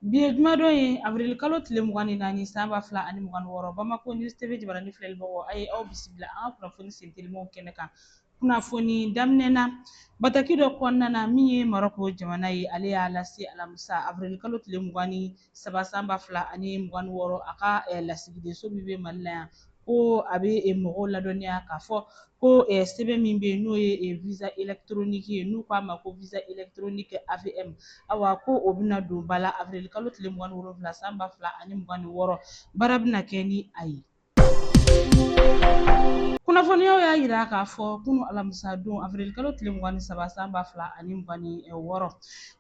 Bi ye jumadon ye avril kalo tile mugan ni naani san ba fila ani mugan ni wɔɔrɔ Bamako News TV jabaranin filɛlibagaw a ye aw bisimila an ka kunnafoni sentelimaw kɛnɛ kan kunnafoni daminɛ na bataki dɔ kɔnɔna na min ye Marɔku jamana ye ale y'a lase alamisa avril kalo tile mugan ni saba san ba fila ani mugan ni wɔɔrɔ a ka lasigidenso min bɛ Mali la yan ko a bɛ eh, mɔgɔw ladɔnniya k'a fɔ ko eh, sɛbɛn min bɛ yen n'o ye eh, visa électronique ye n'u k'a ma ko visa électronique AVM awa ko o bɛna don ba la avril kalo tile mugan ni wolonwula san ba fila ani mugan ni wɔɔrɔ baara bɛna kɛ ni a ye. Kunnafoniyaw y'a yira k'a fɔ kunu alamisa don avril kalo tile mugan ni saba san ba fila ani mugan ni wɔɔrɔ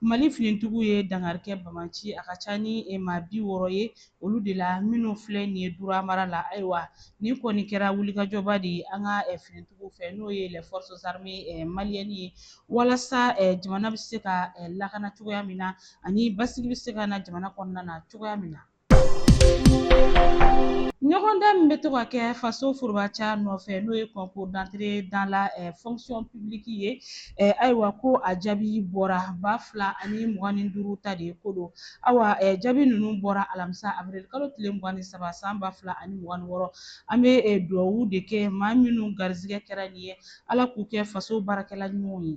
Mali finintigiw ye dankari kɛ banbaanci a ka ca ni maa bi wɔɔrɔ ye olu de la minnu filɛ nin ye dura mara la ayiwa nin kɔni kɛra wulikajɔba de ye an ka eh, finitigiw fɛ n'o ye les forces armées eh, maliennes ye walasa eh, jamana bɛ se ka lakana cogoya min na ani basigi bɛ se ka na jamana kɔnɔna na cogoya min na ɲɔgɔndan min bɛ to ka kɛ faso forobaca nɔfɛ n'o ye concours d'entrée dans la eh, fonction publique ye eh, ayiwa ko a jaabi bɔra ba fila ani mugan ni duuru ta de ko don Awa jaabi ninnu bɔra alamisa avril kalo tile mugan ni saba san ba fila ani mugan ni wɔɔrɔ an bɛ dugawu de kɛ maa minnu garizigɛ kɛra nin ye ala k'u kɛ faso baarakɛla ɲumanw ye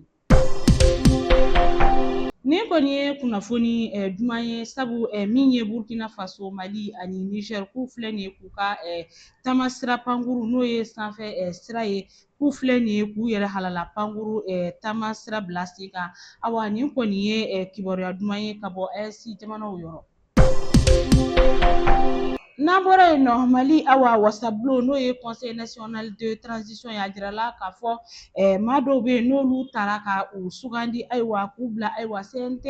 nin kɔni ye kunnafoni duman ye sabu min ye burkina faso mali ani niger k'u filɛ nin ye k'u ka taama sira pankuru n'o ye sanfɛ sira ye k'u filɛ nin ye k'u yɛrɛ halala pankuru taama sira bila sen kan awa nin kɔni ye kibaruya duman ye ka bɔ AES jamanaw yɔrɔ. N'an bɔra yen nɔ Mali awa wasabulon n'o ye Conseil national de transition ye a jirala k'a fɔ maa dɔw bɛ yen n'olu tara ka u sugandi ayiwa k'u bila ayiwa CNT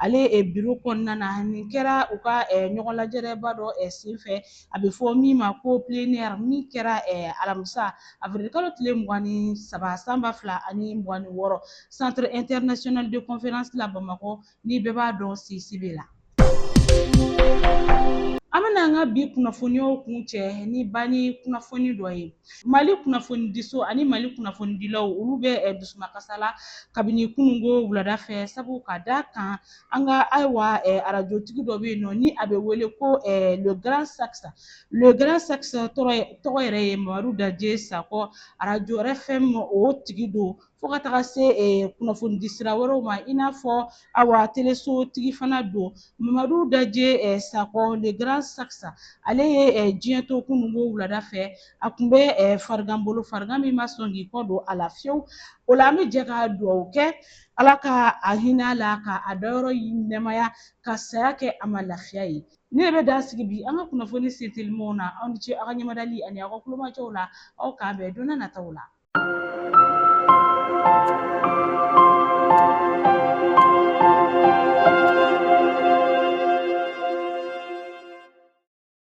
ale biro kɔnɔna na nin kɛra u ka ɲɔgɔnlajɛrɛba dɔ senfɛ a bɛ fɔ min ma ko plénière min kɛra alamisa avril kalo tile mugan ni saba san ba fila ani mugan ni wɔɔrɔ centre international de conférence la bamakɔ ni bɛɛ b'a dɔn CICB la. an bɛna an ka bi kunnafoniyaw kuncɛ ni banni kunnafoni dɔ ye mali kunnafonidiso ani mali kunnafonidilaw olu bɛ dusumakasa la kabini kununko wulada fɛ sabu ka da kan an ka ayiwa arajotigi dɔ bɛ yen nɔ ni a bɛ wele ko le grand sax le grand sax tɔgɔ yɛrɛ ye mamadu jaje sakɔ arajo RFM o tigi don fo ka taga se kunnafonidi sira wɛrɛw ma i n'a fɔ awa teleso tigi fana don mamadu jaje sakɔ le grand sax ale ye diɲɛ to kununko wulada fɛ a tun bɛ farigan bolo farigan min ma sɔn k'i kɔ don a la fiyewu o la an bɛ jɛ ka dugawu kɛ ala ka a hinɛ a la ka a dayɔrɔ nɛmaya ka saya kɛ a ma lafiya ye ne yɛrɛ bɛ dan sigi bi an ka kunnafoni sentelimaw na aw ni ce aw ka ɲɛmadali ani aw ka kulomajɔw la aw k'an bɛn don na nataw la